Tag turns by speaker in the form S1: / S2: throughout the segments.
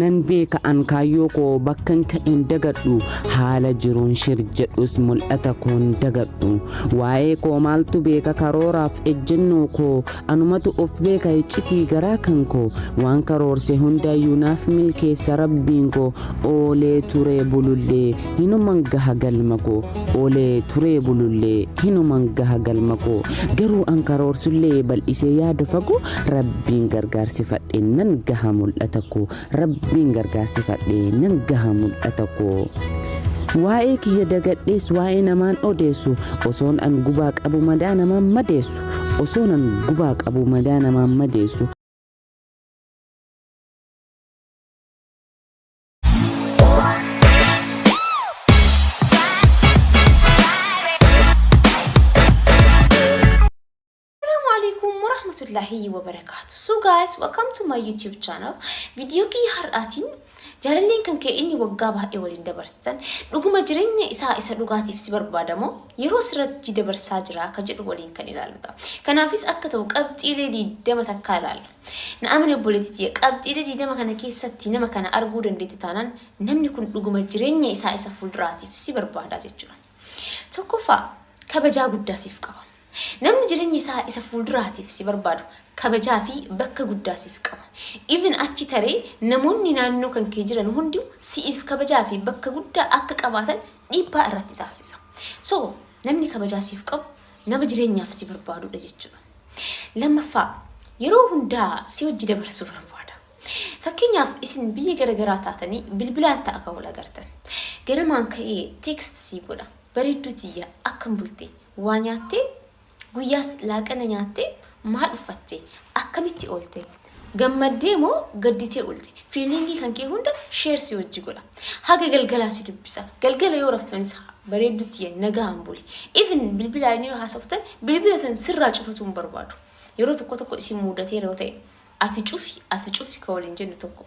S1: Nan beeka an kaayyoo koo bakkan ka'een dagadhu haala jiruun shir jedhus mul'ata koon dagadhu waa'ee koo maaltu beeka karooraaf ejjennoo koo anumatu of beeka iccitii garaa kan koo waan karoorse hundaayyuu naaf milkeessa rabbiin koo oolee turee bulullee Hinuman gaha galma koo Oolee turee bulullee Hinuman gaha galma koo Garuu an karoorsullee Bal'isee yaada fagoo Rabbiin gargaarsifadhe Nan gaha mul'ata koo Rabbiin gargaarsifadhe Nan gaha mul'ata koo Waa'ee kiyya dagadhees Waa'ee namaan odeessu Osoon an gubaa qabu Madaa namaan madeessu Osoon an gubaa qabu Madaa namaan madeessu
S2: warahmatullahi wabarakatuh. So guys, welcome to my YouTube channel. Video kii har'aatiin jaalalleen kan kee inni waggaa baay'ee waliin dabarsitan dhuguma jireenya isaa isa dhugaatiif si barbaadamoo yeroo sirratti dabarsaa jira akka jedhu waliin kan ilaaludha. Kanaafis akka ta'u qabxiilee diidama takkaa ilaalla. Na amani obboleeti tiya qabxiile 20 kana keessatti nama kana arguu dandeette taanan namni kun dhuguma jireenya isaa isa fuulduraatiif si barbaada jechuudha. Tokkoffaa kabajaa guddaa siif qaba. Namni jireenya isaa isa fuulduraatiif si barbaadu kabajaa fi bakka guddaa siif qaba. Even achi taree namoonni naannoo kan kee jiran hundi siif kabajaa fi bakka guddaa akka qabaatan dhiibbaa irratti taasisa. So namni kabajaa siif qabu Nama jireenyaaf si barbaadudha jechuudha. Lammaffaa yeroo hundaa si wajji dabarsuu barbaada. Fakkeenyaaf isin biyya garagaraa taatanii bilbilaan ta'a kan wal agartan. Ganamaan ka'ee teekst sii godha. Bareedduu tiyya akkam bulte waa nyaattee guyyaas laaqana nyaattee maal uffatte akkamitti oolte Gammaddee moo gadditee oolte? Fiiliingii kan kee hunda sheer si wajji godha. Haga galgalaa si dubbisa. Galgala yoo raftanis bareedduu tiyya nagaan buli. Even bilbilaan yoo haasoftan bilbila san sirraa cufatuu hin barbaadu. Yeroo tokko tokko isin muudatee yoo ta'e ati cufi ati cufi ka waliin jennu tokko.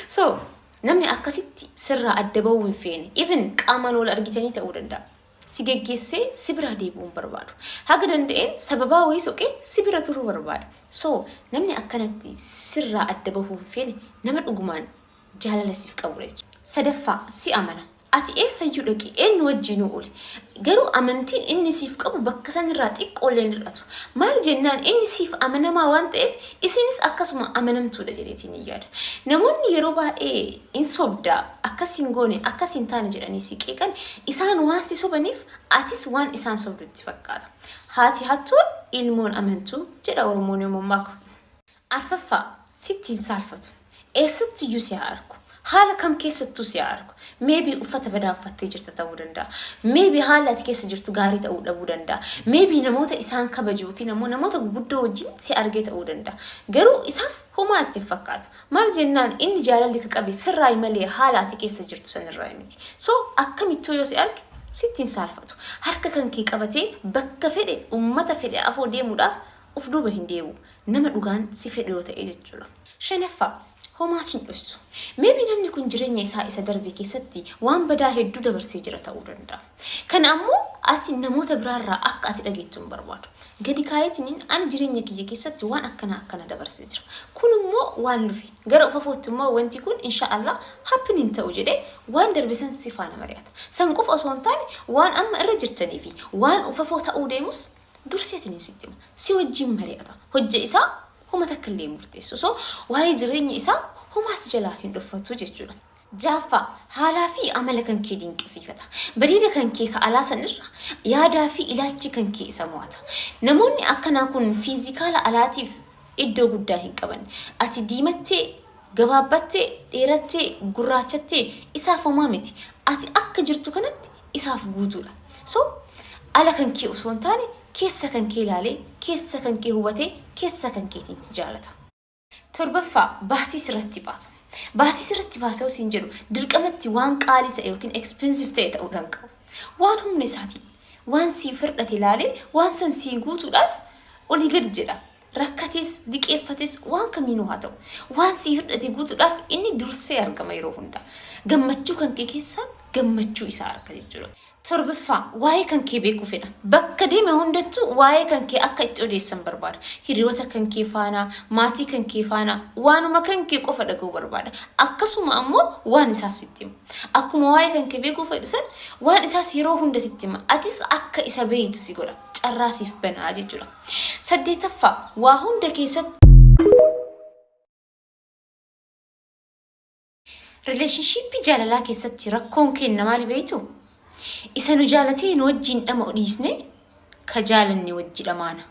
S2: so namni akkasitti sirraa adda bahuu hin feene. Even qaamaan wal argitanii ta'uu danda'a. si geggeessee si biraa deebi'uu hin barbaadu. Haga danda'een sababaa wayii soqee si bira turuu barbaada. So namni akkanatti sirraa adda bahuu hin feene nama dhugumaan jaalala siif qabudha jechuudha. Sadaffaa, si amana. Ati eessayyuu dhaqi, eenyu wajjiinuu ooli. Garuu amantiin inni siif qabu bakka sanirraa xiqqoollee hin hir'atu. Maal jennaan inni siif amanamaa waan ta'eef isiinis akkasuma amanamtuudha jedheetiin hin yaada. Namoonni yeroo baay'ee in sobda, akkas hin goone, akkas hin taane jedhanii si qeeqan, isaan waan si sobaniif atis waan isaan sobdu itti fakkaata. Haati hattuu ilmoon amantuu jedha Oromoon yoo mammaaku. Arfaffaa, sitti hin saalfatu. Eessattiyyuu si haa argu. Haala kam keessattuu si haa argu. Maybe uffata badaa uffattee jirta ta'uu danda'a. Maybe haalli ati keessa jirtu gaarii ta'uu dhabuu danda'a. Maybe namoota isaan kabaju yookiin ammoo namoota guguddoo wajjin si argee ta'uu danda'a. Garuu isaaf homaa itti hin fakkaatu. Maal jennaan inni jaalalli ka qabe sirraayi malee haala ati keessa jirtu san irraayi miti. So akkamittuu yoo si arge sitti hin saalfatu. Harka kan kee qabatee bakka fedhe ummata fedhe afoo deemuudhaaf uf duuba hin deebi'u. Nama dhugaan si fedhu yoo ta'e jechuudha. Shanaffaa, Homaa sin dhossu. Maybe namni kun jireenya isaa isa darbe keessatti waan badaa hedduu dabarsee jira ta'uu danda'a. Kana ammoo ati namoota biraa irraa akka ati dhageettu hin barbaadu. Gadi kaa'eetiniin ani jireenya kiyya keessatti waan akkana akkana dabarsee jira. Kun immoo waan lufe. Gara ufafootti immoo wanti kun insha Allah happen hin ta'u jedhee waan darbe san si faana mari'ata. San qofa osoo hin taane waan amma irra jirtanii fi waan ufafoo ta'uu deemus durseetiniin sitti hima. Si wajjin mari'ata. Hojja isaa homa takka illee hin murteessu. So waa'ee jireenya isaa homaa si jalaa hin dhoffatu jechuudha. Ja'affaa, haalaa fi amala kan kee dinqisiifata. Bareeda kan kee ka alaa san irra yaadaa fi ilaalchi kan kee isa mo'ata. Namoonni akkanaa kun fiizikaala alaatiif iddoo guddaa hin qaban. Ati diimattee, gabaabbattee, dheerattee, gurraachattee isaaf homaa miti. Ati akka jirtu kanatti isaaf guutuudha. So, ala kan kee osoo hin taane keessa kan kee ilaalee, keessa kan kee hubatee, keessa kan keetiin si jaalata. 7ffaa, Baasii sirratti baasa. Baasii sirratti baasa yoo siin jedhu dirqama itti waan qaalii ta'e yookiin expensive ta'e ta'uu dhaan qabu. Waan humna isaatiin waan sii firdhate ilaalee waan san sii guutuudhaaf olii gadi jedha. Rakkatees diqeeffatees waan kamiinuu haa ta'u waan sii hirdhate guutuudhaaf inni dursee argama yeroo hunda. Gammachuu kan kee keessaa gammachuu isaa arga jechuudha. Torbaffaa, waa'ee kan kee beekuu fedha. Bakka deeme hundattu waa'ee kan kee akka itti odeessan barbaada. Hiriyoota kan kee faana, maatii kan kee faana, waanuma kan kee qofa dhaga'uu barbaada. Akkasuma ammoo waan isaas sitti hima. Akkuma waa'ee kan kee beekuu fedhu san waan isaas yeroo hunda sitti hima. Atis akka isa beeytu si godha. Carraa siif banaa jechuudha. Saddeetaffaa, waa hunda keessatti Relationship jaalalaa keessatti rakkoon keenna maali beeytu? Isa nu jaalatee nu wajjiin dhama'u dhiisne ka jaalanne wajji dhamaana.